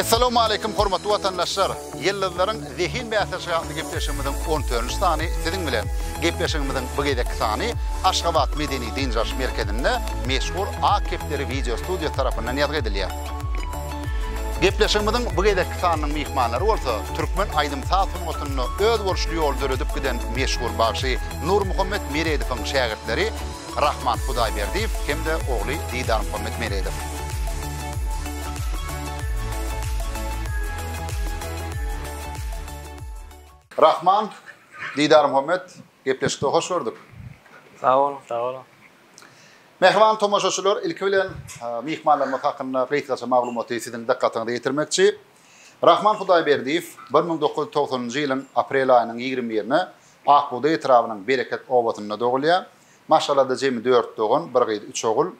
Essalawmaleýkim hormatly watandaşlar! Ýyldyzlaryň zehin bäsleşigi atly gepleşigimiziň on törünji sany siziň bilen. Gepleşigimiziň bu gezekki sany Aşgabat medeni-dynç alyş merkezinde meşhur Ak kepderi wideo studiýasy tarapyndan ýazgy edilýär. Gepleşigimiziň bu gezekki sanynyň myhmanlary bolsa türkmen aýdym-saz sungatynda özboluşly ýoly döredip giden meşhur bagşy Nurmuhammet Meredowyň şägirtleri Rahman Hudaýberdiýew hem-de ogly Didarmuhammet Meredow. Rahman, Didarmuhammet, gepleşikde hoş gördük. Sag boluň, sag boluň. Mähriban tomaşaçylar, ilki bilen myhmanlarymyz hakynda gysgaça maglumaty siziň dykgatyňyza ýetirmekçi. Rahman Hudaýberdiýew bir müň dokuz ýüz togsanynjy ýylyň aprel aýynyň ýigrimi birine Akbugdaý etrabynyň Bereket obasynda dogulýar. Maşgalada jemi dört dogan, bir gyz, üç ogul.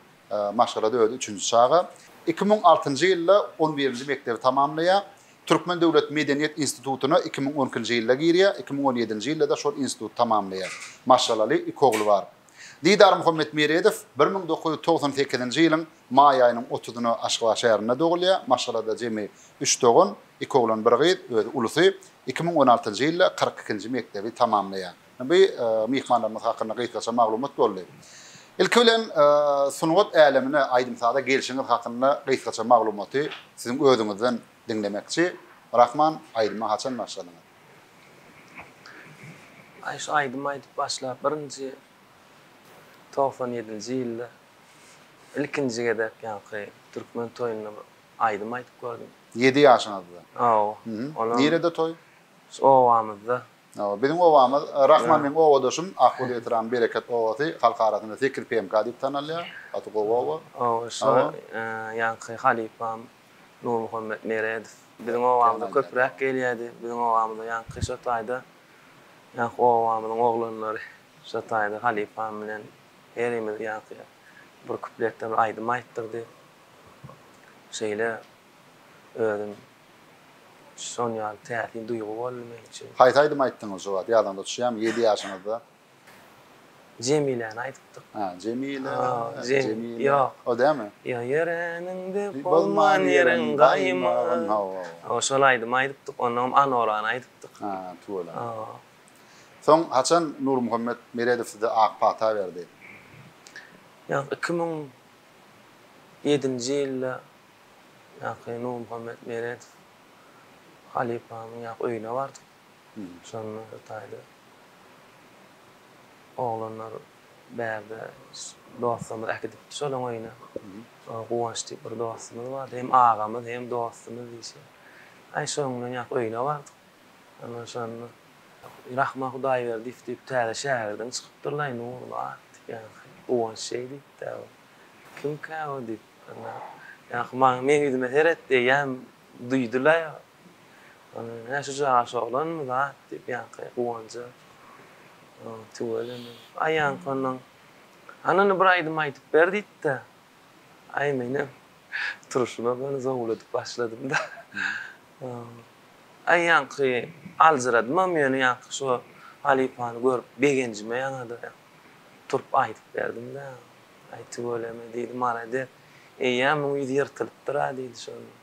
Maşgalada özi üçünji çaga. Iki müň altynjy ýylda on birinji mekdebi tamamlaýar. Türkmen döwlet medeniýet institutyna iki müň on ikinji ýylda girýär, iki müň on ýedinji ýylda-da şol instituty tamamlaýar. Maşgalaly, iki ogly bar. Didar Muhammetmeredow bir müň dokuz ýüz togsan sekizinji ýylyň Maý aýynyň otuzyna Aşgabat şäherinde dogulýar. Maşgalada jemi üç dogan, iki oglan, bir gyz, özi ulusy. Iki müň on altynjy ýylda kyrk ikinji mekdebi tamamlaýar. Bu myhmanlarymyz hakynda gysgaça maglumat boldy. Ilki bilen sungat älemine, aýdym-saza gelşiňiz hakynda gysgaça maglumaty siziň özüňizden diňlemekçi. Rahman, aýdyma haçan başladyňyz? Aý, şu aýdym aýdyp başlap birinji togsan ýedinji ýylda Ilkinji gezek ýaňky türkmen toýunda bir aýdym aýdyp gördüm. Ýedi ýaşyňyzda? Hawa. Olam. Nirede toý? Şu obamyzda. Hawa, biziň obamyz, Rahman meň obadaşym, Akguly etrabym Bereket obasy, halk arasynda Sekiz PMK diýip tanalýar, gaty gowy oba. Hawa, şu ýaňky halypam Nurmuhammet Meredow biziň obamyza köpräk gelýärdi, biziň obamyza ýaňky şo taýda ýaňky obamyzyň oglanlary şo taýda halypam bilen Herimiz ýaňky bir kupletden aýdym aýtdyrdy. Şeýle özüm şon ýaly täsin duýgy boldy men üçin. Haýsy aýdymy aýtdyňyz şu wagt? Ýadyňyza düşýärmi? Ýedi ýaşyňyzda. Jemiläni aýdypdyk. Ha, Jemile, Jemile. Ýok. O dälmi? Ýa ýöreniňde bolman ýeriň gaýymyň. Hawa, hawa. Şol aýdymy aýdypdyk, onnoňam Anorany aýdypdyk. Ha, tüweleme. Hawa. Soň haçan Nurmuhammet Meredow size ak pata berdi? Ýa iki müň ýedinji ýylda ýaky Nurmuhammet Meredow halypamyň ýaky öýüne bardyk. Şonda hytaýly oglanlar bärde dostlarymyz äkidipdi şolaň öýüne. Guwanç diýip bir dostumyz bardy. Hem agamyz hem dostumyz diýşi. Aý şoň bilen ýaky öýüne bardyk. Ondan soň Rahman Hudaýberdiýew diýip täze şägirdiň çykypdyr-laý Nurnaz diýýän. Guwanç şeý diýipd-ä bu. Kimkä bu diýip. Ýaňky maňa meň ýüzüme seret diýýän duýdy-laý o. Ondan soň, Hä, şu jaraş oglanmy zat diýip ýaňky Guwanja tüweleme. Aý ýaňky onnoň, Hany indi bir aýdym aýdyp ber diýipd-ä. Aý menem turşuna göni zowladyp başladym-da. Aý ýaňky aljyradymam ýöne ýaňky şo halypany görüp begenjime ýaňada turup aýdyp berdim-dä. Aý tüweleme diýdi malades. Eýýäm muň ýüzi ýyrtylypdyr-a diýdi şonda.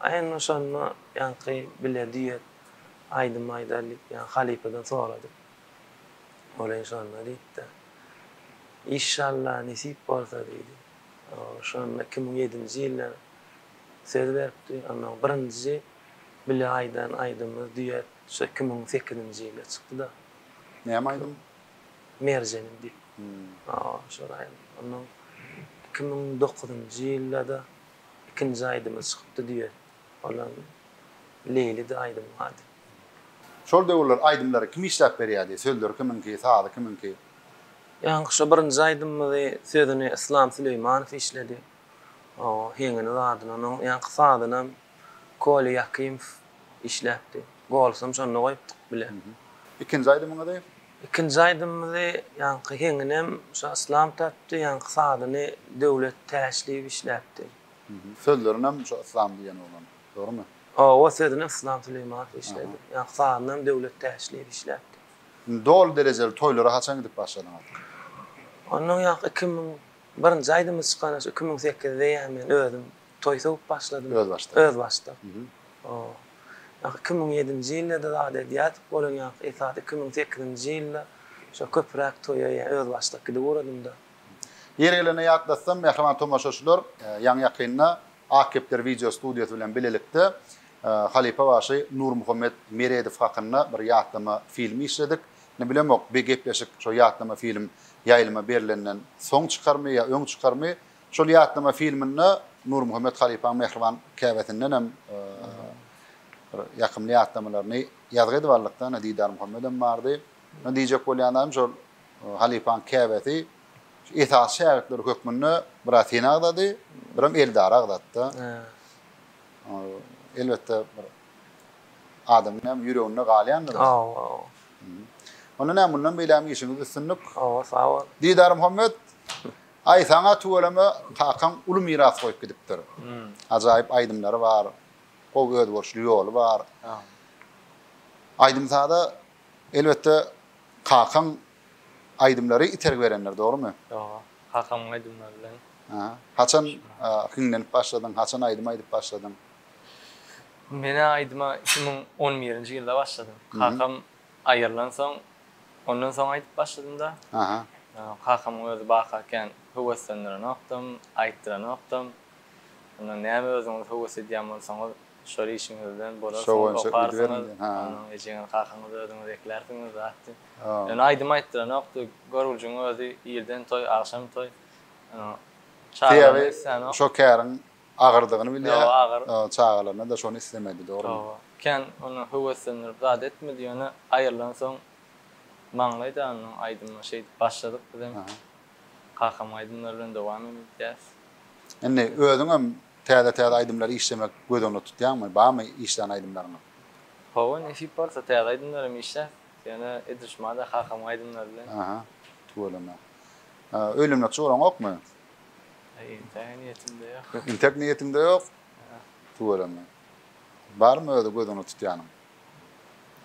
Aý onda şonda ýaňky bile düýet aýdym aýdaly diýip ýaňky halypadan soradyk. Ol hem şonda diýipdi. Işşalla nesip bolsa diýdi. Şonda iki müň ýedinji ýylda Söz beripdi. Onnoň birinji bile aýdan aýdymy duet şu iki müň sekizinji ýylda çykdy-da. Näme aýdym? Merjeniň diýip. Hawa, şol aýdym. Onnoň iki müň dokuzynjy ýylda-da ikinji aýdymy çykypdy duet. Olam Leýlidi aýdymyň ady. Şol döwürler aýdymlary kim işläp berýärdi? Sözleri kimiňki, sazy kimiňki? Ýaňky şo birinji aýdymymyzy sözüni Yslam Süleýmanow işledi. O heňini zadyn onuň ýaňky sazynam Kolýa Ýakymow işläpdi. Golsam şonda goýupdyk bile. Ikinji aýdymyňyzy? Ikinji aýdymymyzy ýaňky heňinem şo Yslam tapdy, ýaňky sazyny Döwlet Täşliýew işläpdi. Sözlerinem şo Yslam diýen oglan, dogrumy? Hawa, sözüni Yslam Süleýmanow işledi. Ýaňky sazynam Döwlet Täşliýew işläpdi. Doly derejeli toýlara haçan gidip başladyňyz? Ondan ýaňky iki müň Birinji aýdymy çykana şu iki müň sekizde ýa men özüm toý sögüp başladym. Özbaşdak. Özbaşdak. O. Ýa iki müň ýedinji ýylda-da zat edýärdik bolan ýaňky esasy iki müň sekizinji ýylda şo köpüräk toýa ýa özbaşdak gidip ugradymda. Ýeri gelende ýatlatsam, mähriban tomaşaçylar, ýaňy-ýakynda Ak kepder wideo studiýasy bilen bilelikde halypa bagşy Nurmuhammet Meredow hakynda bir ýatlama filmi işledik. Ne bilemok bi gepleşik şo ýatlama film ýaýlyma berlenden soň çykarmy ýa öň çykarmy şol ýatlama filminde Nurmuhammet halypaň mähriban käbesindenem bir ýakymly ýatlamalaryny ýazgy edip aldykda ine Didar Muhammedem bardy ine diýjek bolýan zadym şol halypaň käbesi esasy şägirtleri hökmünde biraz seni agzady birem Eldary agzatda elbetde bir Adamyň näme ýüreginde galýandyr ýa. Aw aw. Onda näme mundan beýlägem işiňizde üstünlik. Hawa sag bol. Didar Muhammet Aý saňa tüweleme kakaň uly miras goýup gidipdir. Ajaýyp aýdymlary bar. Gowy özboluşly ýoly bar. Aýdym-saza elbetde kakaň aýdymlary itergi berendir dogrymy? Dogry. Kakamyň aýdymlary bilen. Haçan hiňlenip başladyň, haçan aýdym aýdyp başladyň? Men aýdyma iki müň on birinji ýylda başladym. Kakam aýrylansoň, ondan soň aýdyp başladym-da. Kakamyň özi bakakän höweslendirenokdym, aýtdyranokdym. Ondan näme özüňiz höwes edýän bolsaňyz, şol işiňiz bilen bolarsyňyz, okarsyňyz, ondan ejeňiz-kakaňyzy özüňiz eklärsiňiz zat diýip. Ýöne aýdym aýtdyranokdy. Görgüjiň özi irden toý, agşam toý. Sebäbi şo käriň Agyrdygyny bilýär. Ýo, agyr. Çagalaryna-da şony islemedi, dogrumy? Hawa. Kän ony höweslendirip zat etmedi, ýöne aýrylansoň maňlaýda onuň aýdymy şeýdip başladyk bizem. Kakamyň aýdymlary bilen dowam edýäs. Indi özüňem täze-täze aýdymlary işlemek göz öňünde tutýaňmy? Barmy işlän aýdymlaryňyz? Hawa, nesip bolsa täze aýdymlar hem işläs. Ýöne edil şumada kakamyň aýdymlary bilen. Aha, tüweleme. Öýlenmekçi guraňokmy? Intäge niýetimde ýok. Ýok, intäk niýetiňde ýok? Ýok. Tüweleme. Barmy özi gözüňe tutýanyň?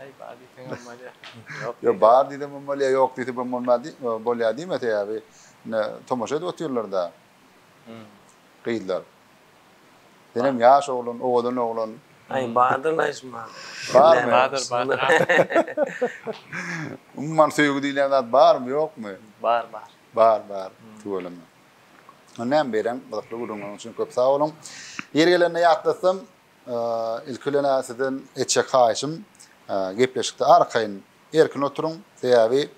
Aý, bar diýseň hem bolýar. Ýok. Ýok, bar diýsem hem bolýar, ýok diýsem hem bolmaz diý, bolýar diýme, sebäbi ine tomaşa edip otyrlar-da. Hum. Gyzlar. Senem ýaş oglan, owadan oglan. Aý, bardyr naýşym bar. Barmy? Bardyr, bardyr. Umuman söýgi diýlen zat barmy, ýokmy? Bar, bar. Bar bar tüweleme. Ony näme bereň gyzykly gürrüňleriň üçin köp sag boluň. Ýeri gelende ýatlatsam ilki bilen sizden etjek haýyşym gepleşikde arkaýyn erkin oturyň sebäbi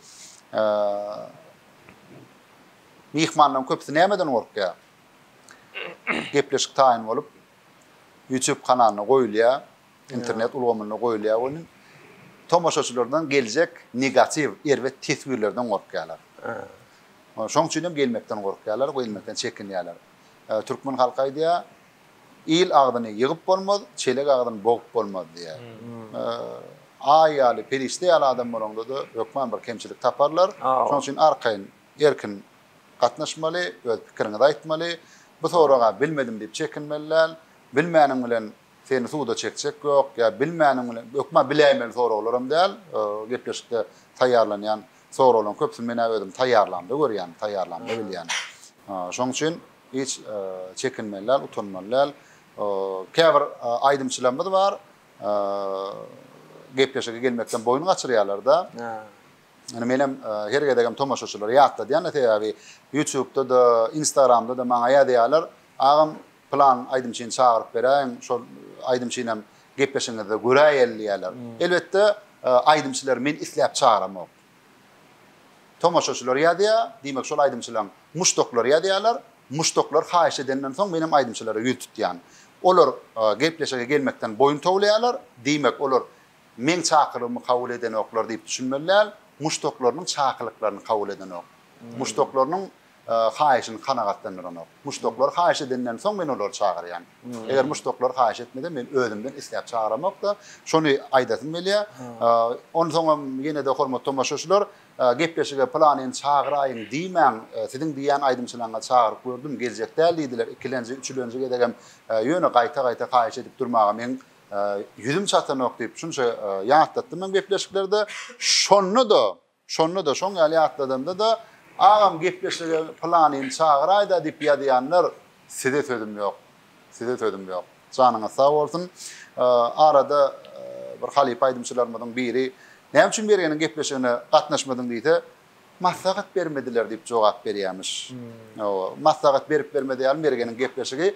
myhmanlaryň köpüsi nämeden gorkýar? Gepleşik taýyn bolup YouTube kanalyna goýulýar. Internet ulgamynda goýulýar welin, tomaşaçylardan geljek negatiw, erbet teswirlerden gorkýarlar. Şoň üçin hem gelmekden gorkýarlar, gelmekden çekinýärler. Türkmen halky aýdýar, Il agzyny ýygyp bolmaz, çelek agzyny bogup bolmaz diýýär. Aý ýaly, perişde ýaly adam bolaňda-da, hökman bir kemçilik taparlar. Şoň üçin arkaýyn, erkin gatnaşmaly, öz pikiriňizi aýtmaly. Bu soraga bilmedim diýip çekinmeli däl. Bilmäniň bilen Seni suda çekjek ýok, ýa bilmäniň bilen, hökman biläýmeli soraglaram däl, gepleşikde taýýarlanýan soraglaryň köpüsini men-ä özüm taýýarlamda görýän, taýýarlamda bilýän. Şoň üçin hiç çekinmeli däl, utanmaly däl. Käbir aýdymçylarymyz bar, gepleşige gelmekden boýun gaçyrýarlar-da. Ýöne menem her gezegem tomaşaçylara ýatladýan-da, sebäbi Ýutubda-da, Instagramda-da maňa ýazýarlar, Agam, Plan aýdymçyny çagyryp beräýiň, şol aýdymçy bilen gepleşiňizde göräýeli diýýärler. Elbetde, aýdymçylary men isläp çagyramok. Tomaşaçylar ýazýar, diýmek şol aýdymçylaryň muşdaklary ýazýarlar. Muşdaklar haýyş edenden soň menem aýdymçylara ýüz tutýan. Olar gepleşige gelmekden boýun towlaýarlar, diýmek olar meň çakylygymy kabul edenoklar diýip düşünmeli däl, muşdaklarynyň çakylyklaryny kabul edenok. Muşdaklarynyň haýyşyny kanagatlandyranok. Muşdaklar haýyş edenden soň men olary çagyrýan. Eger muşdaklar haýyş etmese, men özümden isläp çagyramok-da, şony aýdasym gelýär. Onsoňam ýene-de hormatly tomaşaçylar, gepleşige pylanyny çagyraýyn diýmäň, siziň diýýän aýdymçylaryňyzy çagyryp gördüm, geljek däl diýdiler, ikilenji, üçülenji gezegem, ýöne gaýta-gaýta haýyş edip durmaga meň ýüzüm çatanok diýip, şunça ýatlatdym men gepleşiklerde. Şonda-da Şonda-da, şoň ýaly ýatladanda-da, Agam gepleşige pylanyny çagyraýda diýip ýazýanlar, size sözüm ýok. Size sözüm ýok. Janyňyz sag bolsun. Arada bir halypa aýdymçylarymyzyň biri Näme üçin Mergeniň gepleşigine gatnaşmadyň diýse, Maslahat bermediler diýip jogap berýärmiş. Maslahat berip-bermedi ýaly Mergeniň gepleşigi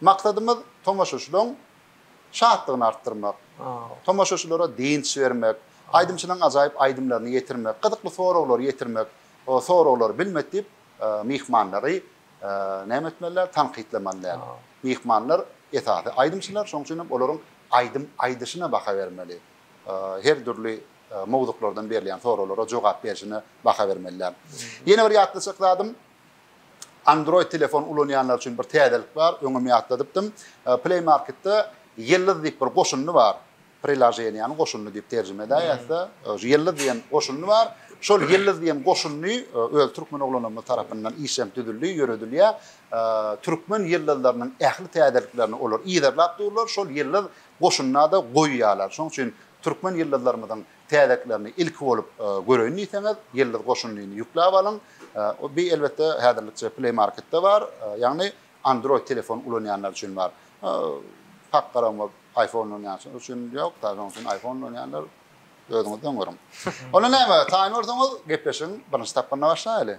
Maksadymyz tomaşaçylaryň şatlygyny artdyrmak, tomaşaçylara dynç bermek, aýdymçylaryň ajaýyp aýdymlaryny ýetirmek, gyzykly soraglary ýetirmek, soraglary bilmet diýip myhmanlary näme etmeli däl, tankytlamaly däl. Myhmanlar esasy aýdymçylar, şonuň üçin hem olaryň aýdym aýdyşyna baha bermeli. Her dürli mowzuklardan berilýän soraglara jogap berişine baha bermeli däl. Ýene bir ýatlaçak zadym, Android telefon ulanýanlar üçin bir täzelik bar, öňem ýatladypdym. Play Marketde Ýyldyz diýip bir goşundy bar. Prilaženiýäniň goşundy diýip terjime edäýýäs-de. Ýyldyz diýen goşundy bar. Şol Ýyldyz diýen goşundy öz türkmen oglanymyz tarapyndan işlenip düzüldi, ýöredilýär. Türkmen ýyldyzlarynyň ähli täzeliklerini olar yzarlap durlar, şol Ýyldyz goşundy-da goýýarlar. Şonuň üçin türkmen ýyldyzlarymyzyň Täzeklerini ilki bolup göreýin diýseňiz, Ýyldyz goşundyny ýükläp alyň. Bi elbetde häzirlikçe Play Marketde bar, ýagny Android telefon ulanýanlar üçin bar. Pak garagma iPhone ulanýanlar üçin ýok, sadä şonuň üçin iPhone ulanýanlar özüňiz öň görüň. Onda näme, taýyn bolsaňyz, gepleşigiň birinji tapgyryna başlaýaly.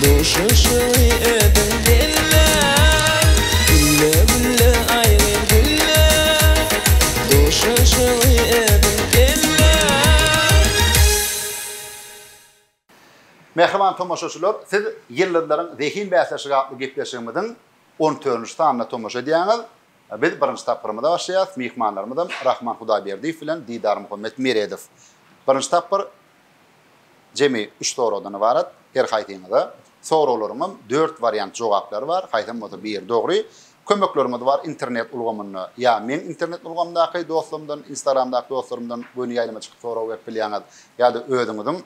Duşuşygy ödüň belle. Gülle gülle aýry gülle. Duşuşygy ödüň belle. Mähriban tomaşaçylar, siz Ýyldyzlaryň zehin bäsleşigi atly gepleşigimiziň on dördünji sanyna tomaşa edýäňiz. Biz birinji tapgyrymyza başlaýarys. Myhmanlarymyzam Rahman Hudaýberdiýew bilen Didar Muhammet Meredow. Birinji tapgyr Jemi üç soragdan ybarat. Her haýsyňyza soraglaryňam dört wariant jogaplary bar, haýsam bolsa biri dogry. Kömekleriňiz bar internet ulgamynda ýa meň internet ulgamdaky dostlarymdan, instagramdaky dostlarymdan göni ýaýlyma çykyp sorag berip bilýäňiz, ýa-da özüňiziň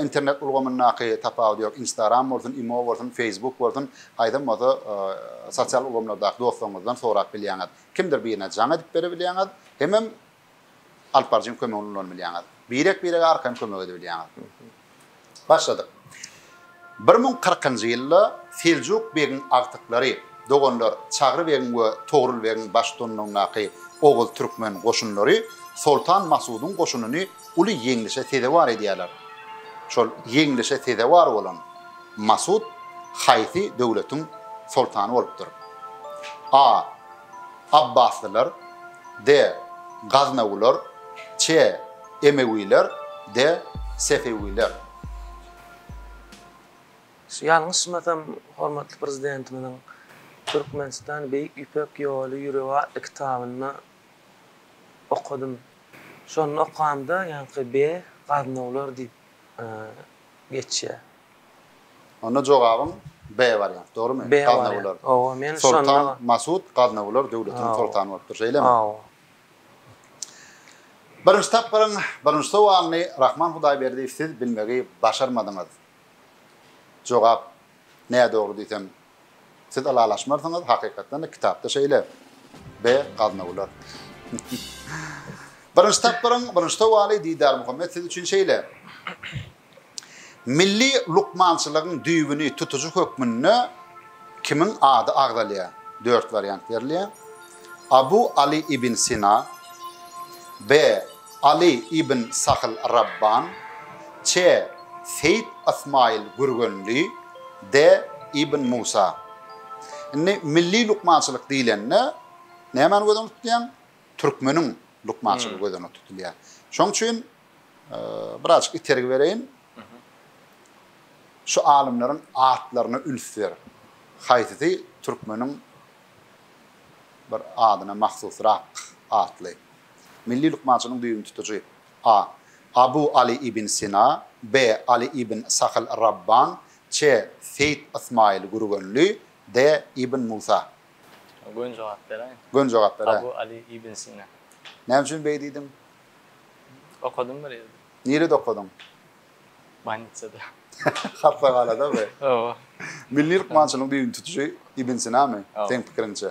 internet ulgamyndaky, tapawudy ýok, instagram bolsun, imo bolsun, feýsbuk bolsun, haýsam bolsa sosial ulgamlardaky dostlaryňyzdan sorap bilýäňiz. Kimdir birine jaň edip berebilýäňiz hemem alyp baryjyň kömegini ulanyp bilýäňiz. Birek-birege arkaýyn kömek edip bilýäňiz. Başladyk. Bir müň kyrkynjy ýylda Seljuk begiň agtyklary, doganlar Çagry begiň we Togrul begiň baştutanlygyndaky oguz-türkmen goşunlary Soltan Masudyň goşunyny uly ýeňlişe sezewar edýärler. Şol ýeňlişe sezewar bolan Masud haýsy döwletiň soltany bolupdyr? A. Abbaslylar, de, Gaznawular, çe, Emewiler, de, Sefewiler. Ýalňyşmasam, hormatly Prezidentimiziň Türkmenistan, Beýik Ýüpek ýoly ýüregi atly kitabyny okadym. Şony okamda ýaňky be, Gaznawlar diýip geçýär. Onda jogabyň B wariant, dogrymy? B wariant. Hawa, men şonda. Soltan Masud Gaznawylar döwletiniň soltany bolupdyr, şeýlemi? Hawa. Birinji tapgyryň birinji sowalyny Rahman Hudaýberdiýew siz bilmegi başarmadyňyz. Jogap nädogry diýsem, Siz ylalaşmarsyňyz hakykatdanda kitapda şeýle be gaznawlar. Birinji tapgyryň birinji sowaly Didar Muhammet siz üçin şeýle. Milli lukmançylygyň düýbüni tutujy hökmünde kimiň ady agzalýar? Dört wariant berilýär. Abu Ali ibn Sina, B. Aly ibn Sahl Rabban, Ç. Seýit Ysmaýyl Gürgenli, D. Ibn Musa. Indi milli lukmançylyk diýlende nämäni göz öňünde tutýaň? Türkmeniň lukmançylygy göz öňünde tutulýar. Şonuň üçin birazajyk itergi bereýin. Şu alymlaryň atlaryna üns ber. Haýsysy türkmeniň bir adyna mahsusrak atly? Milli lukmançylygyň düýbüni tutujy a. Abu Aly ibn Sina, b. Aly ibn Sahl Rabban, ç. Seýit Ysmaýyl Gürgenli, d. Ibn Musa. Gön jogap beräýiň. Gön jogap beräý. Abu Aly ibn Sina. Näme üçin beý diýdiň? Okadym bir ýerde. Nirede okadyň? Bolnitsada. Hassahanadamy? Hawa. Milli lukmançylygyň düýbüni tutujy Ibn Sinamy, seň pikiriňçe?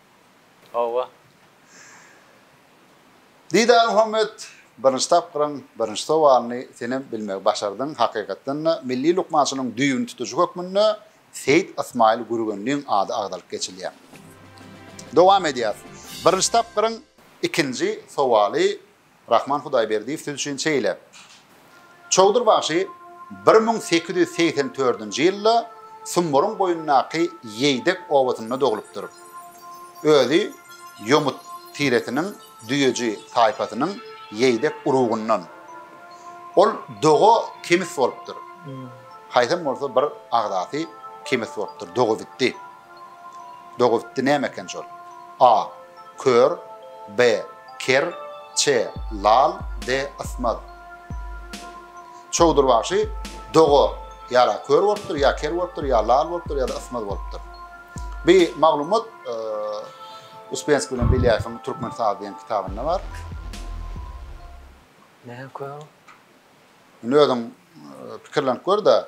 Hawa. Didarmuhammet, birinji tapgyryň birinji sowalyny senem bilmegi başardyň, hakykatdan-da, milli lukmançylygyň düýbüni tutujy hökmünde Seýit Ysmaýyl Gürgenliň ady agzalyp geçilýär. Dowam edýäs. Birinji tapgyryň ikinji sowaly Rahman Hudaýberdiýew siz üçin şeýle. Çowdur bagşy bir müň sekiz ýüz segsen dördünji ýylda Sumburyň boýundaky Ýeýdek obasynda doglupdyr. Özi Ýomut tiresiniň Düýeji taýpasynyň Ýeýdek urugyndan. Ol doga kemis bolupdyr. Haýsam bolsa bir agzasy kemis bolupdyr, doga gitdi. Dogupdy näme eken şol? A. Kör B. Ker C. Lal D. Ysmaz Çowdur bagşy doga ýara kör bolupdyr, ýa ker bolupdyr, ýa lal bolupdyr, ýa-da ysmaz bolupdyr. Bi maglumat Uspenskiý bilen Belýaýewiň Türkmen sazy diýen kitabynda bar. Näme kör? Indi özüň pikirlenip gör-de.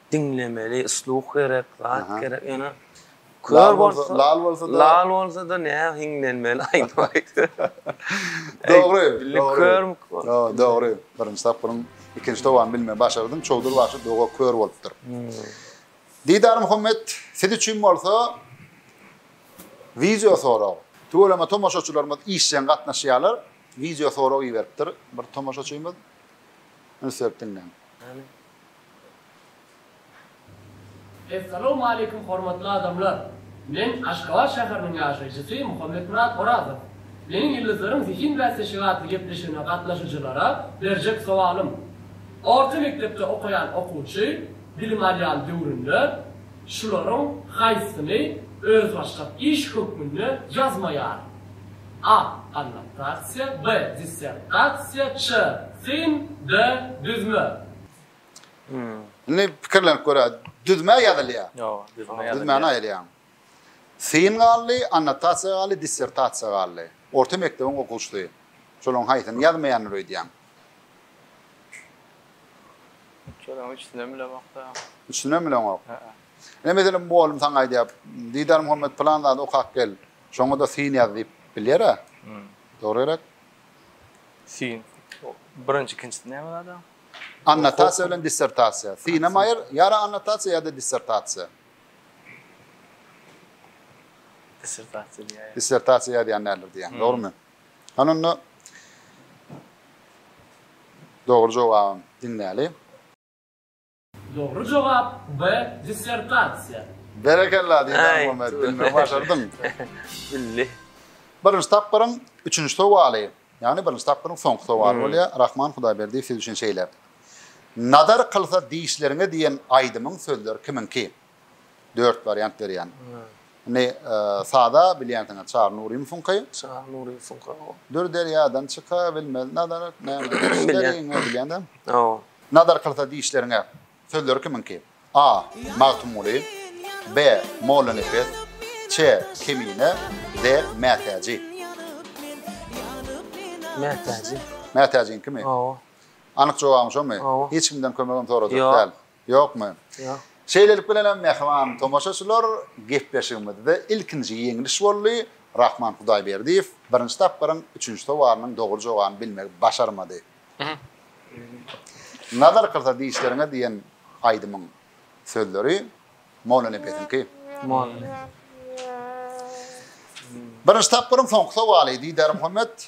Diňlemeli, sluh gerek, zat gerek, ýöne kör bolsa, lal bolsa-da, lal bolsa-da nä hiňlenmeli, aýdyp aýtsa. Dogry, dogry. Ýoo, dogry. Birinji tapgyryň ikinji towany bilmegi başardyň, Çowdur bagşy doga kör bolupdyr. Didar Muhammet, siz üçin bolsa wideo sorag. Tüweleme tomaşaçylarymyz işjeň gatnaşýarlar, wideo sorag iberipdir bir tomaşaçymyz. Üns berip diňläň. Essalawmaleýkum hormatly adamlar! Men Aşgabat şäheriniň ýaşaýjysy Muhammetmyrat Orazow. Meniň Ýyldyzlaryň zehin bäsleşigi atly gepleşigine gatnaşyjylara berjek sowalym. Orta mekdepde okaýan okuwçy bilim alýan döwründe şularyň haýsysyny özbaşdak iş hökmünde ýazmaýar? A. Annotasiýa B. Dissertasiýa C. Syn D. Düzme. Indi pikirlenip göräýiz. Düzme ýazylýar. Ýoga, düzme ýazylýar. Düzmäni aýyrýaň. Syn galdy, annotasiýa galdy, dissertasiýa galdy. Orta mekdebiň okuwçysy. Şolaryň haýsyny ýazmaýandyr öýdýäň? Şolaryň üçüsinem bilemok-da. Üçüsinem bileňok? Hä-ä. Ine, meselem, bu oglum saňa aýdýar, Didar Muhammet, pylan zady okap gel. Şoňa-da syn ýaz diýip bilýär-ä. Dogryrak. Syn. Birinji, ikinjisi näme zada? Annotasiýa bilen dissertasiýa. Syn hem aýyr, ýara annotasiýa ýa-da dissertasiýa. Dissertasiýa diýýär. Dissertasiýa ýazýan däldir diýýär, dogrumy? Hany onda dogry jogabym diňläli. Dogry jogap B dissertasiýa. Berekella Didar-Muhammet, bilmegi başardyň. Bildi. Birinji tapgyryň üçünji sowaly, ýagny birinji tapgyryň soňky sowaly bolýar, Rahman Hudaýberdiýew siz üçin şeýle. Nazar kylsa dişleriňe diýen aýdymyň sözleri kimiňki? Dört wariant berýän. Indi sada bilýänsiňiz Çary Nurymowyňky. Çary Nurymowyňky. Dür derýadan çyka bilmez nazar näme bilýän-dä. Hawa. Nazar kylsa dişleriňe. Sözleri kimiňki? A. Magtymguly. B. Mollanepes. Ç. Kemine. D. Mätäji. Mätäji. Mätäjiňkimi? Hawa. Anyk jogabyň şomy? Hawa. Hiç kimden kömegem sorajak däl. Ýokmy? Ýok. Şeýlelik bilen hem mähriban tomaşaçylar, gepleşigimizde ilkinji ýeňliş boldy, Rahman Hudaýberdiýew birinji tapgyryň üçünji sowalynyň dogry jogabyny bilmegi başarmady. Nazar kyrsa dişleriňe diýen aýdymyň sözleri Mollanepesiňki. Mollanepes. Birinji tapgyryň soňky sowaly, Didarmuhammet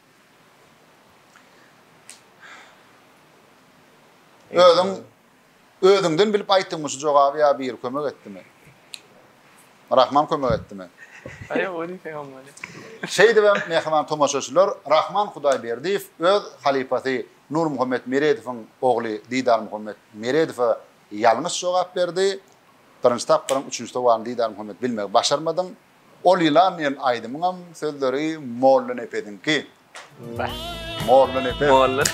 Özüň özüňden bilip aýtdyňmy şu jogaby ýa biri kömek etdimi? Rahman kömek etdimi? Aýa ony peýgamber. Şeýdip hem mähriban tomaşaçylar Rahman Hudaýberdiýew öz halypasy Nurmuhammet Meredowyň ogly Didarmuhammet Meredowa ýalňyş jogap berdi. Birinji tapgyryň üçünji sowalyny Didarmuhammet bilmegi başarmadyň. Ol ýylan diýen aýdymyňam sözleri Mollanepesiňki. Mollanepes. Mollanepes.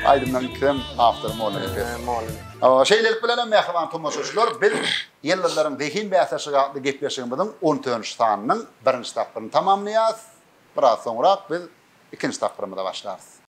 Aýdymlaryň ikisem awtory Mollanepes. Mollanepes. Şeýlelik bilenem mähriban tomaşaçylar, biz Ýyldyzlaryň zehin bäsleşigi atly gepleşigimiziň on dördünji sanynyň birinji tapgyryny tamamlaýarys. Biraz soňrak biz ikinji tapgyrymyza başlarys.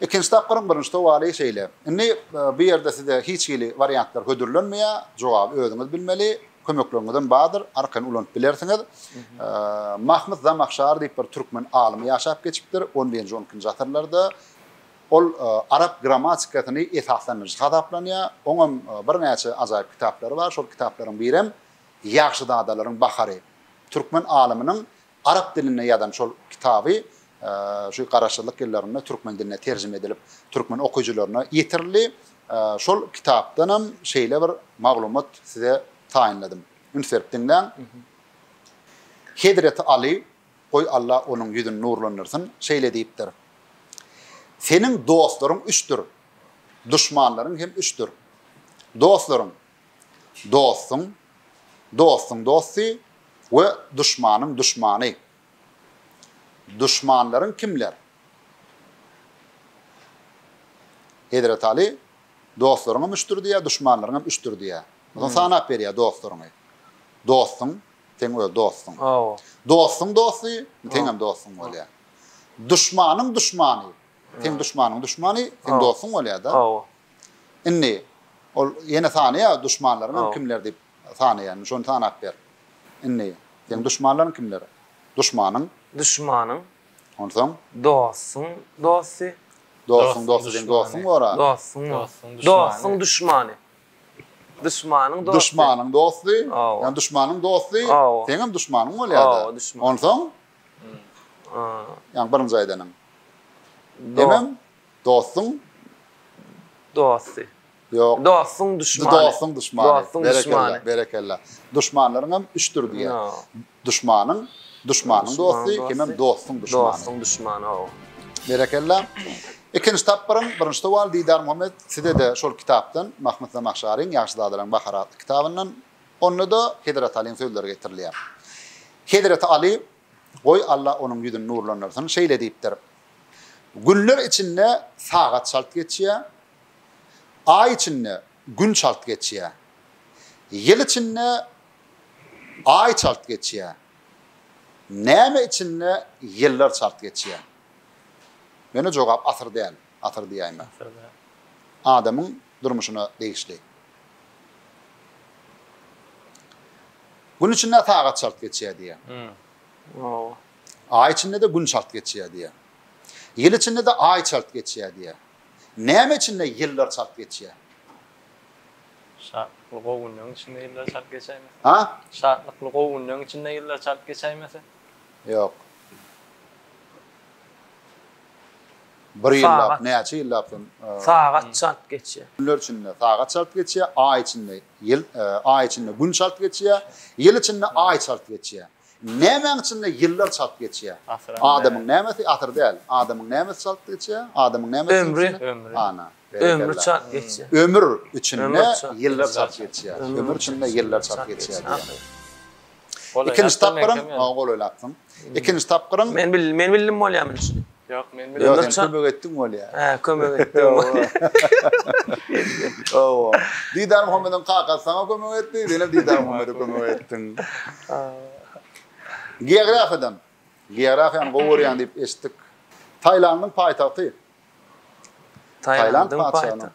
Ikinji tapgyryň birinji sowaly şeýle. Indi bu ýerde size hiç hili wariantlar hödürlenmeýär, jogaby özüňiz bilmeli. Kömekleriňizem bardyr, arkaýyn ulanyp bilersiňiz. Mahmyt Zamahşary diýip bir türkmen alymy ýaşap geçipdir, on birinji, on ikinji asyrlarda. Ol arap grammatikasyny esaslandyryjy hasaplanýar. Oňam birnäçe ajaýyp kitaplary bar. Şol kitaplaryň birem Ýagşyzadalaryň bahary. Türkmen alymynyň Arap dilinde ýazan şol kitaby şu garaşsyzlyk ýyllarynda türkmen diline terjime edilip, türkmen okyjylaryna ýetirildi. Şol kitapdanam şeýle bir maglumat size taýynladym. Üns berip diňläň. Hezreti Aly, goý Alla onuň ýüzüni nurlandyrsyn, şeýle diýipdir, Seniň dostlaryň üçdür, duşmanlaryň hem üçdür. Dostlaryň, dostuň dostuň dosty we duşmanyň duşmany. Duşmanlaryň kimler? Hezreti Aly, Dostlaryň hem üçdür diýýär, duşmanlaryň hem üçdür diýýär. Onsoň sanap berýär dostlaryňy. Dostuň, seň öz dostuň. Dostuň dosty, seň hem dostuň bolýar. Duşmanyň duşmany, seň duşmanyň duşmany, seň dostuň bolýar-da. Indi ol ýene sanaýa duşmanlaryňam kimler diýip sanaýa indi şony sanap ber. Indi seň duşmanlaryň kimler? Duşmanyň. Duşmanyň. Onsoň. Dostuň dosty. Dostuň dosty seň dostuň bora. Dostuň dosty. Dostuň duşmany. Duşmanyň dosty. Duşmanyň dosty. Ýa duşmanyň dosty seňem duşmanyň bolýada. Onsoň. Ýa birinji aýdanyň. Hemem Dostuň dosty. Ýok. Dostuň duşmany. Dostuň duşmany. Dostuň duşmany. Berekella. Duşmanlaryň hem üçdür diýýär. Duşmanyň, duşmanyň dosty, hemem dostuň duşmany. Dostuň duşmany, hawa. Berekella. Ikinji tapgyryň birinji sowaly Didar Muhammet, size-de şol kitapdan, Mahmyt Zamahşaryň Ýagşy zadalaryň bahary atly kitabyndan. Onda-da Hezreti Alyň sözleri getirilýär. Hezreti Aly Goý, Alla onuň ýüzüni nurlandyrsyn, şeýle diýipdir, Günler içinde sagat çalt geçýär, Aý içinde Gün çalt geçýär, Ýyl içinde Aý çalt geçýär, Näme içinde ýyllar çalt geçýär? Ýöne jogap asyr däl. Asyr diýäýme. Adamyň durmuşyna degişli. Gün içinde sagat çalt geçýär diýýär. Aý içinde-de gün çalt geçýär diýýär. Ýyl içinde-de aý çalt geçýär diýýär. Näme içinde ýyllar çalt geçýär? Şatlykly gowy günleriň içinde ýyllar çalt geçäýmese. Ha? Şatlykly gowy günleriň içinde ýyllar çalt geçäýmese. Ýok. Bir ýyllap, näçe ýyllap son? Sagat çalt geçýär. Günler içinde sagat çalt geçýär, aý içinde ýyl, aý içinde gün çalt geçýär, ýyl içinde aý çalt geçýär. Nämäň içinde ýyllar çalt geçýär? Adamyň nämesi? Asyr däl. Adamyň nämesi çalt geçýär? Adamyň nämesi? Ömri. Ana. Ömri çalt geçýär. Ömür içinde ýyllar çalt geçýär. Ömür içinde ýyllar çalt geçýär. Ikinji tapgyram, maňa golaýlapsyň. Ikinji tapgyram. Men bildim, men bildim bolýarmy düşünip? Ýok, men bildim. Ýok, sen kömek etdiň bolýar. Hä, kömek etdim. Owa. Didar Muhammediň kakasy saňa kömek etdi, sen hem Didar Muhammede kömek etdiň. Geografiýadan. Geografiýany gowy görýän diýip eşitdik. Tailandyň paýtagty. Tailandyň paýtagty.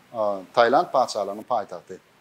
Tailand patyşalygynyň paýtagty.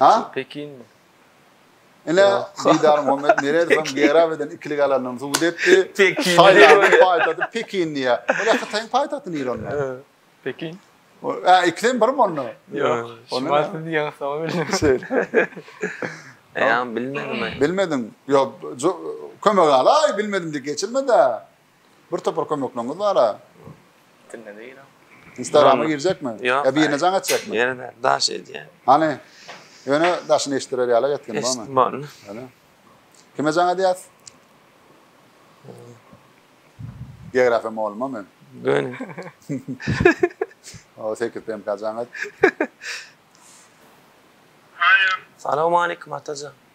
Ha? Pekinmi? Ine, Didar Muhammet Meredowam Gerab eden ikilik alandygyny subut etdi. Pekin. Taýlandyň paýtagty Pekin diýýär. Ine, Hytaýyň paýtagty nir onda? Pekin. Ä, ikisem birmi onda? Ýok. Şumat siz diýýäňizsoň bildim. Şeýle. Ýa, bilmediňmi? Bilmedim. Ýok, kömek al-aý, bilmedim diýip geçirme-dä. Bir topar kömekleňiz bara. Tinde değil o. Instagram'a girecek mi? Yok. Ya birine can etcek mi? Yere de daş edýän. Hani? Öne daşyny eşitdirer ýala etgin barmy? Eşitdim onu. Öyle. Kime can edýäs? Geografiýa mugallymam men. Göni. O 8 PMK can et. Hayır. Salam aleyküm Atacan.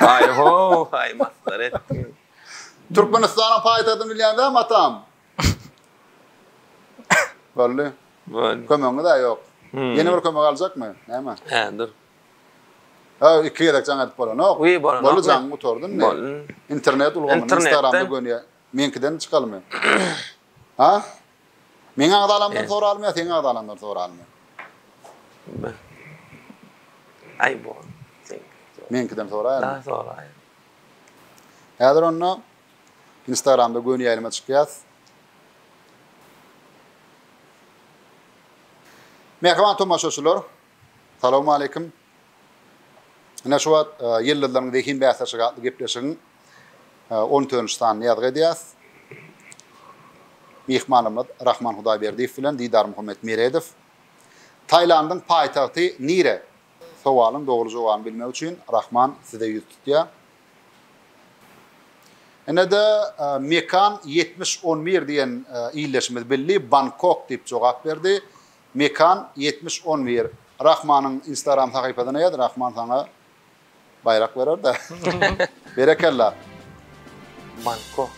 Aý-ho-aý, masgara etdiň. Türkmenistanyň paýtagtyny bilýäň dämi, atam? Boldy. Boldy. Kömegiňiz-ä ýok. Ýene bir kömek aljakmy? Näme? Hä, dur. Haw, iki gezek jaň edip bolanok. Wiý, bolanokmy? Boldy, jaňy gutardym men. Boldy. Internet ulgamyny Instagramda gönýä. Meňkiden çykalmy? Ha? Meň agzalamdan soralym ýa seň agzalaňdan soralym ýa? Bil. Aý bol. Meňkiden soraýalymy? Daa soraý. Häzir onda Instagramda göni ýaýlyma çykýas. Mähriban tomaşaçylar, Salowmaleýkim. Ine şu wagt Ýyldyzlaryň zehin bäsleşigi atly gepleşigiň on tönji sanyny ýazgy edýäs. Myhmanymyz Rahman Hudaýberdiýew bilen Didar Muhammet Meredow. Tailandyň paýtagty nire? Sowalyň dogry jogabyny bilmek üçin Rahman size ýüz tutýar. Ine-de Mekan ýetmiş on bir diýen ildeşimiz bildi, Bangkok diýip jogap berdi. Mekan ýetmiş on bir Rahmanyň instagram sahypasyna ýaz Rahman saňa baýrak berer da Berekella. Bankok.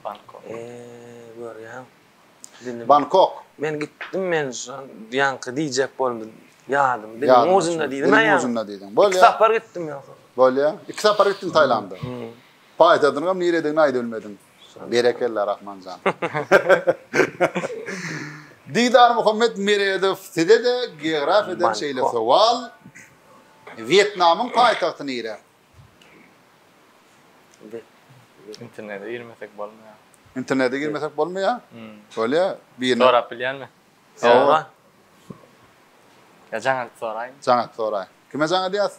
Bankok. Eee görýäň. Bankok. Men gitdim men şo ýaňky diýjek boldum ýadym diliň ujunda diýdim aýa. Diliň ujunda diýdiň. Bolýa. Iki sapar gitdim ýogsam. Bolýa. Iki sapar gitdiň Taýlanda. Paýtagtynyňam niredigini aýdyp bilmediň. Berekella Rahmanjan. Didar Muhammet Meredow size-de geografiýadan şeýle sowal. Wýetnamyň paýtagty nire? Internete girmesek bolmaýar. Internete girmesek bolmaýar? Bolýar. Birine sorap bilýänmi? Sora. Ýa jaňat soraýyn. Jaňat soraý. Kime jaň edýäs?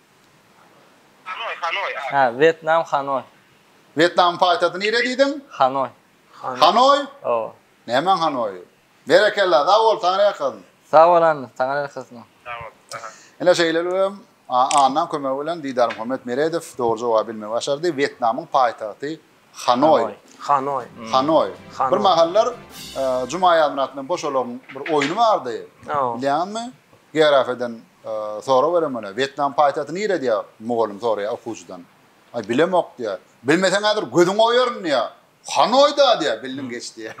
Hanoý, Hanoý, a. Hä, Wýetnam, Hanoý. Wýetnamyň paýtagty nire diýdiň? Hanoý. Hanoý? Hawa. Nämäň Hanoýy? Berekella, sag bol, saňa ýakyn. Sag bol, Anna, saňa ýakyn. Sag bol, saňa. Ine, şeýle hem Annaň kömegi bilen Didarmuhammet Meredow dogry jogaby bilmegi başardy. Wýetnamyň paýtagty Hanoý. Hanoý. Hanoý. Bir mahallar Juma Aýazmyrat bilen Boşalagyň bir oýny bardy. Bilýäňizmi? Geografyýadan sorag berem ola. Wýetnam paýtagty nire diýýär? Mugallym soraýar okuwçydan. Aý bilemok diýýär. Bilmeseň häzir gözüňi oýaryn diýýär. Hanoýda diýýär. Bildiň geç diýýär.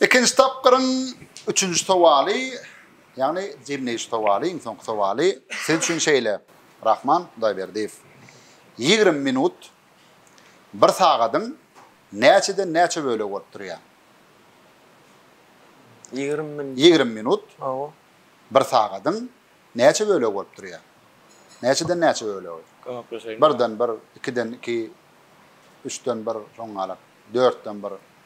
Ikinji tapgyryň üçünji sowaly, ýagny jemleýji sowaly, iň soňky sowaly siz üçin şeýle. Rahman Hudaýberdiýew ýigrimi minut bir sagadyň näçeden näçe bölegi bolup durýar? Ýigrimi minut. Ýigrimi minut Hawa. bir sagadyň näçe bölegi bolup durýar? Näçeden näçe bölegi? Kömekleşeýin. Birden bir, ikiden iki, üçden bir, şoňňalak, dörtden bir.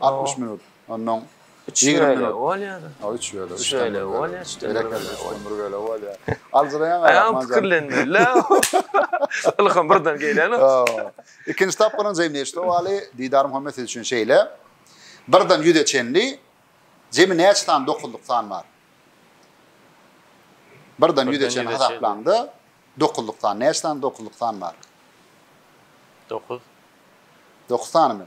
60 minut. Ondan Üç bölegi bolýar. Ha, üç bölegi. Üç bölegi bolýar. Üç bölegi bolýar. Aljyraýaň aýak maňa. Pikirlenmeli-ä. Ylham birden gelýän. Ikinji tapgyryň jemi neçe sowaly? Didar Muhammet siz üçin şeýle. Birden ýüze çenli jemi näçe sany dokuzlyk san bar? Birden ýüze çenli hasaplaňda dokuzlyk san. Näçe sany dokuzlyk san bar? Dokuz. Dokuz sanymy?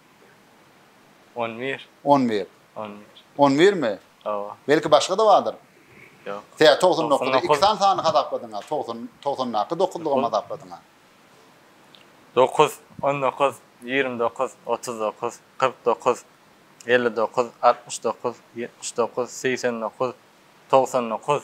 On bir. On bir. On bir. On birmi? Hawa. Belki başga-da bardyr? Ýok. Tä togsan dokuzy iki sany sany hasapladyň-a, togsan, togsandaky dokuzlugam hasapladyň-a. Dokuz, on dokuz, ýigrimi dokuz, otuz dokuz, kyrk dokuz, elli dokuz, altmyş dokuz, ýetmiş dokuz, segsen dokuz, togsan dokuz.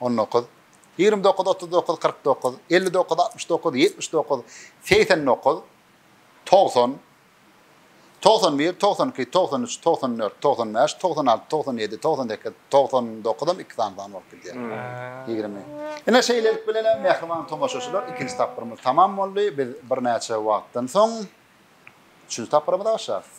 On dokuz. Ýigrimi dokuz, otuz dokuz, kyrk dokuz, elli dokuz, altmyş dokuz, ýetmiş dokuz, segsen dokuz, togsan, togsan bir, togsan iki, togsan üç, togsan dört, togsan bäş, togsan alty, togsan ýedi, togsan sekiz, togsan dokuzam iki sany san bolup gidýär. Ýigrimi. Ine, şeýlelik bilenem, mähriban tomaşaçylar, ikinji tapgyrymyz tamam boldy. Biz birnäçe wagtdan soň üçünji tapgyra-myza başlarys.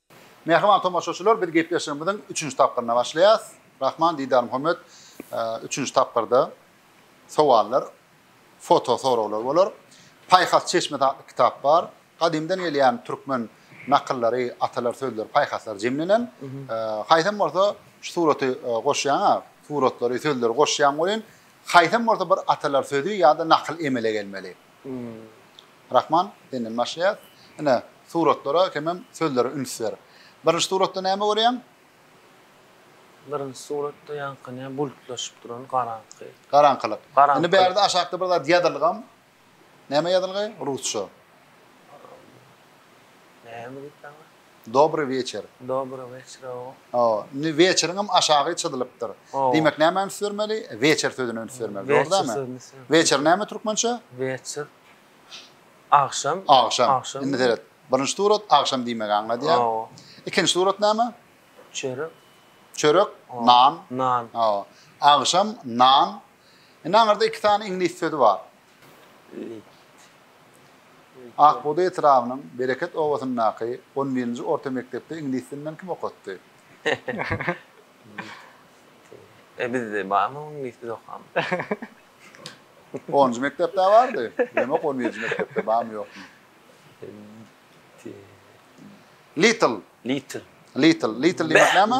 Mähriban tomaşaçylar biz gepleşigimiziň üçünji tapgyryna başlaýas. Rahman Didarmuhammet üçünji tapgyrda sowallar, foto soraglar bolar. Paýhas çeşmesi atly kitap bar. Gadymdan gelýän türkmen nakyllary, atalar sözleri, paýhaslar jemlenen. Haýsam bolsa şu suraty goşýaňa, suratlary, sözleri goşýaň welin, haýsam bolsa bir atalar sözi ýa-da nakyl emele gelmeli. Rahman senden başlaýas. Ine, suratlara hemem sözlere üns ber. Birinji suratda näme görýäň? Birinji suratda ýaňky näme bulutlaşyp duran garaňky. Garaňkylyk. Indi bärde aşakda bir zat ýazylgam. Näme ýazylgy? Rusça. Näme diýipdi aňry? Dobry weçer. Dobry weçer o. O. Indi weçeriňem aşagy çyzylypdyr. O. Diýmek nämä üns bermeli? Weçer sözüne üns bermeli. Dogry dämi? Weçer sözüne üns bermeli. Weçer näme türkmençe? Weçer. Agşam. Agşam. Agşam. Indi seret. Birinji surat agşam diýmegi aňladýar. O. Ikinji surat näme? Çörek. Çörek, nan. Nan. O. Agşam nan Indi aňyrda iki sany iňlis sözi bar. Akbugdaý etrabynyň Bereket obasyndaky on birinji orta mekdepde iňlis dilinden kim okatdy? E bizde barmy iňlis biz okamyz? Onunjy mekdepde bardy. Bilemok on birinji mekdepde barmy ýokmy. Little. Little. Little. Little diýmek näme?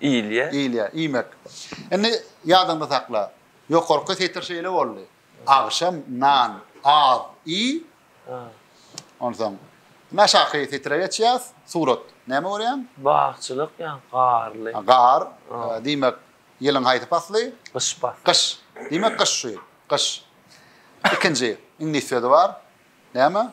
Iýilýä. Iýilýä, iýmek. Indi ýadyňda sakla. Ýokarky setir şeýle boldy. Agşam nan az iý. Onsoň indi aşaky setire geçýäs. Surat. Näme görýäň? Bagçylyk ýa garly. Gar. Diýmek, ýylyň haýsy pasly? Gyş pasly. Gyş. Diýmek, gyş şu ýyl. Gyş. Ikinji iňlis sözi bar. Näme?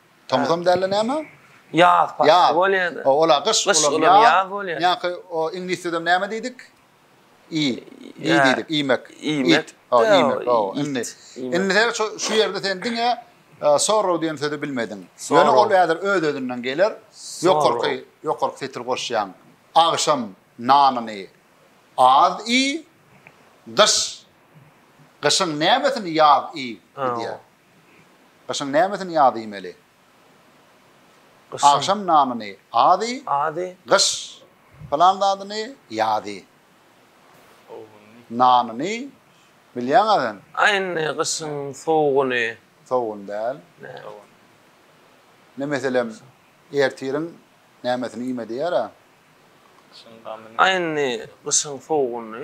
Tomusam dälde näme? Ýaz pasly bolýada. Ýaz. Ola gyş, olam ýaz bolýa. Ýaňky o iňlisçedem näme diýdik? I. I diýdik, iýmek. Iýmek. Ho, iýmek. Ho, indi. Indi sen şu şu ýerde sen diňe sorrow diýen sözi bilmediň. Ýöne ol häzir öz-özünden geler. Ýokarky, ýokarky setir goşýaň. Agşam nanyny az iý. Gyş. Gyşyň nämesini ýaz iý diýýär. Gyşyň nämesini ýaz iýmeli? Agşam nanyny az iý. Gyş pylan zadyny ýaz iý. Nanyny bilýäň-ä sen. A indi gyşyň sowugyny. Sowugyny däl. Ine, meselem, ertiriň nämesini iýme diýer-ä. A indi gyşyň sowugyny.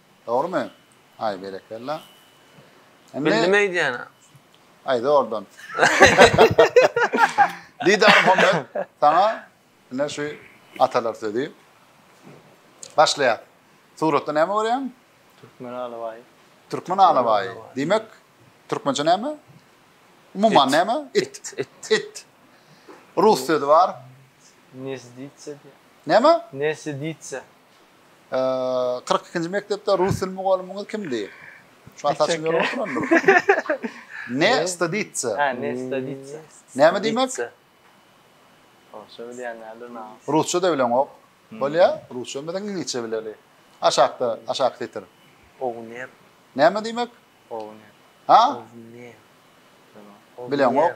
Dogrymy? Aý berekella. Bildim eýdýäni. Aýda oradan. Didar Muhammet, saňa ine şu atalar sözi. Başlaýar. Suratda näme görýäň? Türkmen alabaýy. Türkmen alabaýy. Diýmek, türkmençe näme? Umuman näme? It. It. It. Rus sözi bar. Nesditsa. Näme? Nesditsa. Kyrk ikinji mekdepde rus dil mugallymyňyz kimdi? Şu ataçym ýörüp oturandyr. Ne staditsa. Ha, ne staditsa. Näme diýmek? Rusça bilýänlerdir näme? Rusça da bileňok. Bolýa? Rusça bilmesek iňlisçe bileli. Aşakda, aşak setir. Ogner. Näme diýmek? Ogner. Ha? Ogner. Bileňok.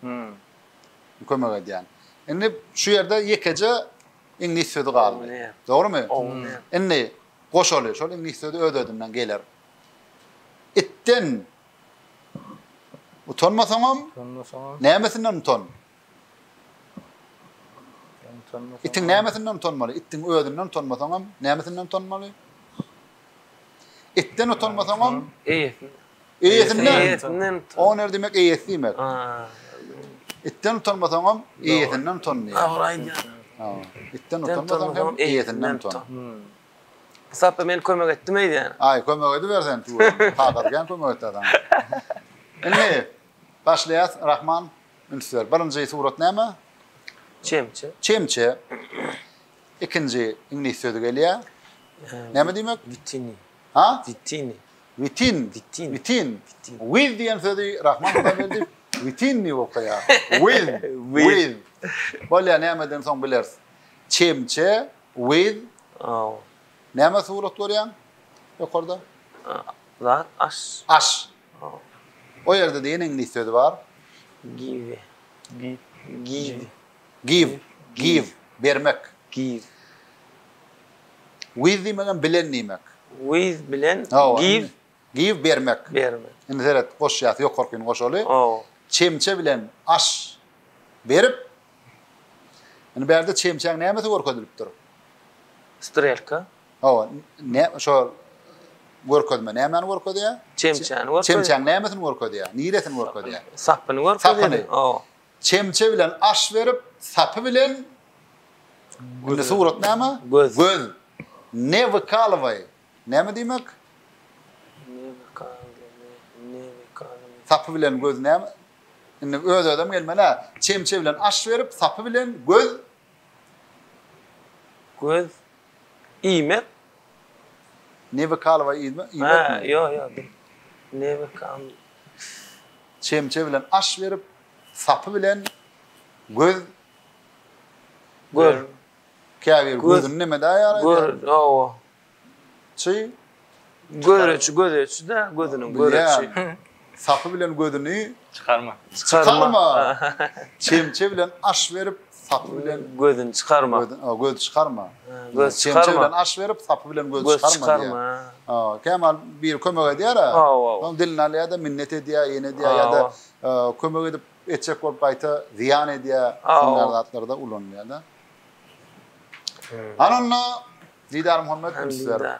Hmm. Kömek edýän. Indi şu ýerde ýekeje iňlis sözi galdy. Dogrymy? Indi goşaly şol iňlis sözi öz-özünden geler. Itden utanmasaňam, utanmasaňam. Nämesinden utan? Itiň nämesinden utanmaly? Itiň özünden utanmasaňam, nämesinden utanmaly? Etden utanmasaňam eýesini. Eýesinden. Eýesinden. O ne demek eýesi diýmek. Etden utanmasaňam eýesinden utan diýýär. Dogry aýdýaň. Ha. Etden utanmasaňam hem eýesinden utan. Sapda men kömek etdim eýdýän. Aý, kömek edibersen. Kadar gän kömek etdi adam. Indi başlaýas. Rahman üns ber. Birinji surat näme? Çemçe. Çemçe. Ikinji iňlis sözi gelýär. Näme diýmek? Witini. Ha? Witini. Witin. Witin. Witin. Wiz diýen sözi Rahman Hudaý berdi. Witin diýip okaýar. Wiz. Wiz. Bolýar, nämeden soň bileris. Çemçe, wiz. Oh. Näme surat görýäň? Ýokarda. Zat, aş. Aş. Oh. O ýerde diýen iňlis sözi bar. Give. Give. Give. Give, give, bermek. Give. With diýmek hem bilen diýmek. With bilen, give. Give, bermek. Bermek. Indi seret, goşýas, ýokarkyny goşaly. Ow. Çemçe bilen aş berip. Indi bu ýerde çemçäň nämesi görkezilipdir? Strelka. Ow, ne, şo görkezme nämäni görkezýär? Çemçäni görkezýär. Çemçäň nämesini görkezýär? Niresini görkezýär? Sapyny görkezýär. Sapyny. Ow. Çemçe bilen aş berip, sapy bilen Indi surat näme? Göz. Ne wykalowaý. Näme diýmek? Ne wykalowaý, ne, ne wykalowaý. Sapy bilen göz näme? Indi öz-özem gelmeli-ä. Çemçe bilen aş berip, sapy bilen göz. Göz iýmek. Ne wykalowaý iýmekmi? Hä, ýok, ýok. Ne wykalowaý. Çemçe bilen aş berip, sapy bilen göz Gör. Käbir gözüni neme daýar aýdýar? Gör, hawa. Çy? Göreçi, gözeçi-de, gözüniň göreçi. Sapy bilen gözüni. Çykarma. Çykarma. Çemçe bilen aş berip, Sapy bilen gözüni çykarma. Göz, göz çykarma. Göz çykarma. Çemçe bilen aş berip, sapy bilen göz, göz çykarma. çykarma. Ha, kemal bir kömek edýär ha. Soň dilini alýar da minnet edýär, ýene edýär ýa-da e, kömek edip etjek bolup gaýta zyýan edýär. Şunlar zatlarda ulanýar da. Ananda Didar Muhammed sizler.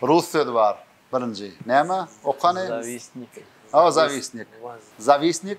Rus sözi bar. Birinji. Näme? Okany? Zavisnik. Ha, zavisnik. Zavisnik.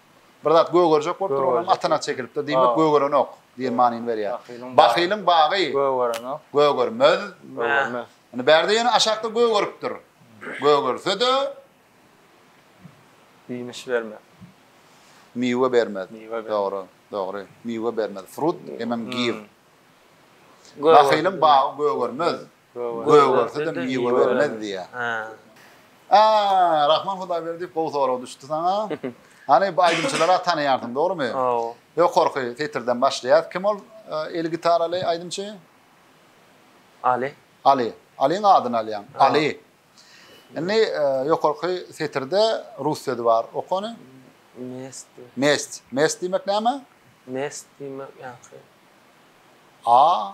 Bir zat gögerjek bolup dur, onam atyna çekilipdir diýmek gögerenok diýen manyny berýär. Bahylyň bagy gögerenok, gögermez. Indi bärde ýene aşakda gögeripdir. Gögerse-de ýemiş bermez. Miwe bermez. Dogry, dogry. Miwe bermez. Fruit, emem give. Bahylyň bagy gögermez. Göge görse-de miwe bermez diýýär. A, Rahman Hudaýberdiýew gowy sorag düşdi saňa. Hany bu aýdymçylary-a tanaýarsyň, dogrumy? Ýokarky setirden başlaýas. Kim ol eli gitaraly aýdymçy? Aly. Aly. Alyň adyny alýaň. Aly. Indi ýokarky setirde rus sözi bar. Oka ony. Mest. Mest. Mest diýmek näme? Mest diýmek ýaňky. A,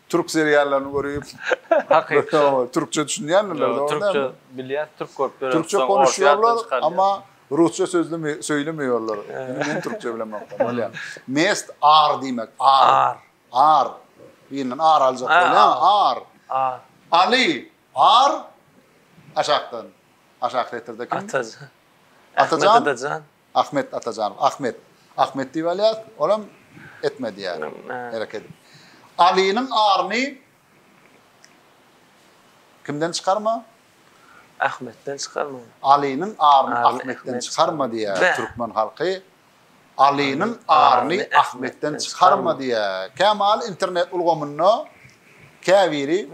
Türk seriallaryny görüp. Hakyky. Türkçe düşünýändirler dogry dälmi? Türkçe bilýän, türk görüp döredip. Türkçe konuşýarlar, amma rusça sözlemi söýlemeýärler. Indi men türkçe bilemok. Bolýar. Mest ar diýmek, ar. Ar. Ar. Birinden ar aljak bolýan, ar. Ar. Ali, ar. Aşakdan. Aşak setirde kim? Atajan. Atajan. Atajan. Ahmet Atajanow. Ahmet. Ahmet diýip alýas, olam etme diýýär. Herek edip. Alynyň aryny kimden çykarma? Ahmetden çykarma. Alynyň aryny Ahmetden çykarma diýýär türkmen halky. Alynyň aryny Ahmetden çykarma diýýär. Kä maly internet ulgamynda käbiri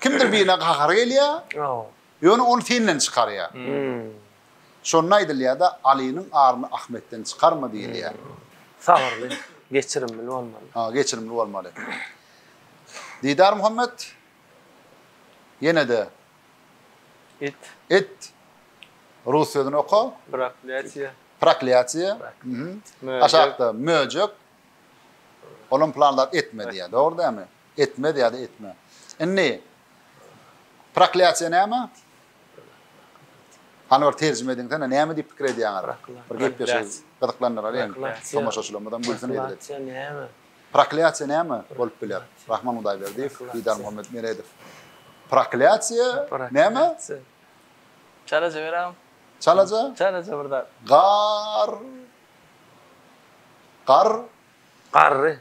kimdir birine gahary gelýär. Ýöne ony senden çykarýar. Şonda aýdylýar-da, Alynyň aryny Ahmetden çykarma diýilýär. Sabyrly, geçirimli bolmaly. Ha, geçirimli bolmaly. Didar Muhammet, ýene-de. It. It. Rus sözüni oka. Proklýatiýa. Proklýatiýa. Aşakda möjek. Olam plan zat etme diýýär. Dogry dälmi? Etmez ýa-da etme. Indi proklýatsiýa näme? Hany bir terjime ediňsene, näme diýip pikir edýäňiz? Bir gepleşigi gyzyklandyralyň. Tomaşaçylarymyzam gülsün eýleriň. Proklýatsiýa näme? Proklýatsiýa näme bolup biler? Rahman Hudaýberdiýew, Didar Muhammetmeredow. Proklýatsiýa näme? Çalaja beräm. Çalaja? Çalaja bir zat. Gar. Gar. Garry.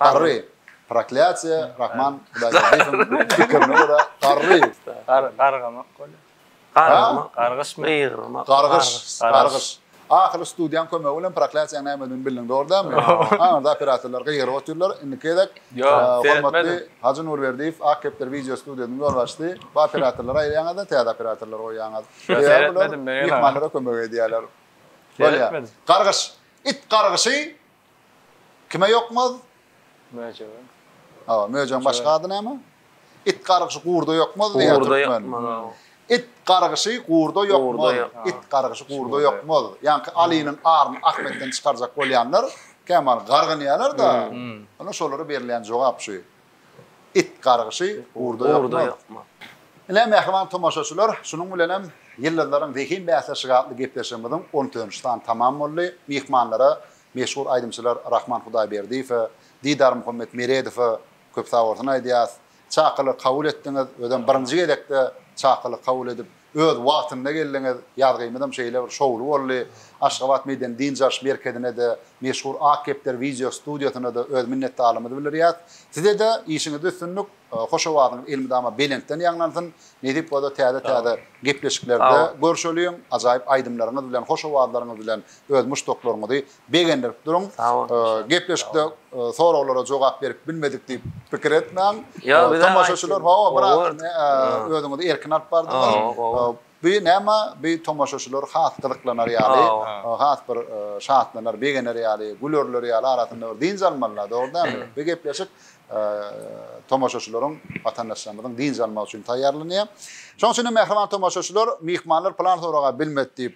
Garry, proklýatsiýa, Rahman Hudaýberdiýewiň pikirine görä, garry. Gargamak bolýar. Gargamak, gargyşmy? Gygyrmak. Gargyş, gargyş. Ahyry studiýaň kömegi bilen proklýatsiýaň nämedigini bildiň, dogry dälmi? Aňyrda operatorlar gygyryp otyrlar. Indiki gezek hormatly Hajy Nurberdiýew, Ak kepder wideo studiýasynyň ýolbaşçysy, bu operatorlary aýyrýaňyz-da, täze operatorlary goýýaňyz. Seretmedim men ýene. Myhmanlara kömek edýärler. Bolýar. Gargyş. It gargyşy, Kime ýokmaz? Möjege. Hawa, möjegiň başga ady näme? It gargyşy gurda ýokmaz diýýär Gurda türkmen. ýokmaz, hawa. It gargyşy gurda ýokmaz. Gurda ýok, a. It gargyşy gurda ýokmaz. Ýaňky Alynyň aryny Ahmetden çykarjak bolýanlar kämally gargynýarlar-da. Ine, şolara berilýän jogap şu. It gargyşy ugurda ýokmy? Ine, mähriban tomaşaçylar, şunuň bilen hem Ýyldyzlaryň zehin bäsleşigi atly gepleşigimiziň on üçünji sany tamam boldy. Myhmanlara, meşhur aýdymçylar Rahman Hudaýberdiýewe, Didar Muhammet Meredowa köp sag bolsun aýdýas. Çakylygy kabul etdiňiz, özem birinji gezekde çakylyk kabul edip, Öz wagtynda geldiňiz, ýazgymyzam şeýle bir şowly boldy. Aşgabat medeni dynç alyş merkezine-de, meşhur Ak kepder wideo studiýasyna-da öz minnetdarlygymyzy bildirýäs. Size-de işiňizde üstünlik, hoş owazyňyz elmydama belentden ýaňlansyn. Nesip bolsa täze-täze gepleşiklerde görşeliň, ajaýyp aýdymlaryňyz bilen, hoş owazlaryňyz bilen öz muşdaklaryňyzy Begendirip duruň. Gepleşikde soraglara jogap berip bilmedik diýip pikir etmäň. Tomaşaçylar hawa biraz özüňizi erkin alyp bardyňyz. Bu näme bu tomaşaçylar has gyzyklanar ýaly, has bir şatlanar, begener ýaly, gülerler ýaly arasynda bir dynç almalylar dogry dälmi? Bu gepleşik tomaşaçylaryň, watandaşlarymyzyň dynç almagy üçin taýýarlanýar. Şonuň üçin hem mähriban tomaşaçylar myhmanlar plan soraga bilmedi diýip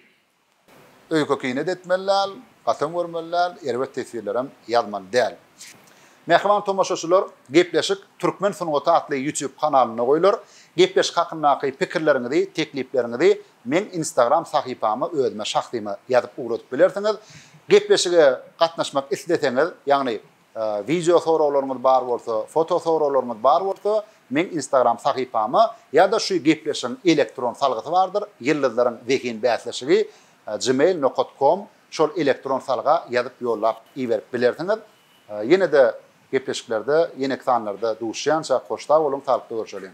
Öýke-kinede etmeli däl, gatam görmeli däl, erbet teswirlerem ýazmaly däl. Mähriban tomaşaçylar, Gepleşik türkmen sungaty atly YouTube kanalynda goýlar. Gepleşik hakyndaky pikirleriňizi, teklipleriňizi meň Instagram sahypama özüme şahsyma ýazyp ugradyp bilersiňiz. Gepleşige gatnaşmak isleseňiz, ýagny Wideo soraglaryňyz bar bolsa, foto soraglaryňyz bar bolsa, meň Instagram sahypama ýa-da şu gepleşigiň elektron salgysy bardyr, Ýyldyzlaryň zehin bäsleşigi gmail nokat kom, şol elektron salga ýazyp ýollap iberip bilersiňiz. Ýene-de gepleşiklerde, ýeneki sanlarda duşýança hoş sag boluň, saglykda görşeliň.